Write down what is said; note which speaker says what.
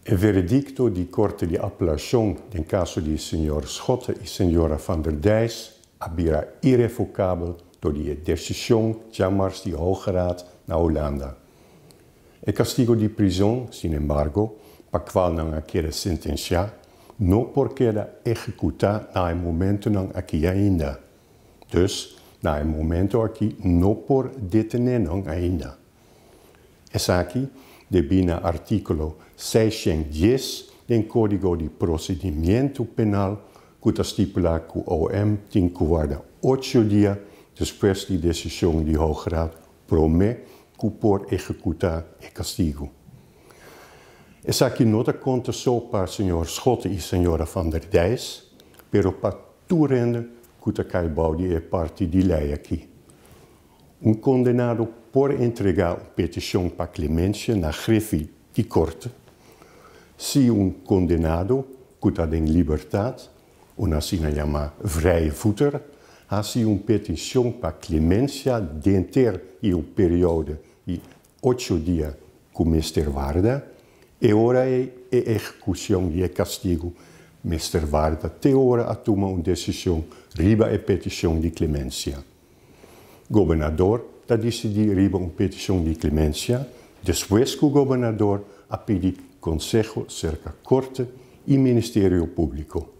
Speaker 1: E veredicto di Corte di Apelacion den caso di Señor Schotte y Señora Van der Dijs a bira irrevocabel tor di e decision djamars di Hoge Raad na Holanda. E castigo di prison, sin embargo, pa cual nan a keda sentencia, no por keda ehecuta na e momentonan aki ainda. Dus, na e momento aki no por detené nan ainda. Esaki debí na artíkulo seishent dies den Kódigo di Prosedimiento Penal ku ta stipulá ku OM tin ku warda ocho dia despues di desishon di Hooggerecht promé ku por ehekutá e kastigu. Esaki no ta konta so pa señor Schotte i señora Van der Dijs, pero pa Tur hende ku ta kai bou di e parti di lei aki. Un kondenado por entregá un petishon pa klemensia na hrefi di korte. Si un kondenado ku ta den libertat, un asina yamá vrijvoeter, hasi un petishon pa klemensia denter e un periode di Ocho dia ku mester warda, e ora ei e ehekushon di e kastigu mester warda te ora a tuma un desishon riba e petishon di klemensia. Gobernador ta disidí riba un petishon di klemensia despues ku gobernador a pidi konseho serka korte i ministerio públiko.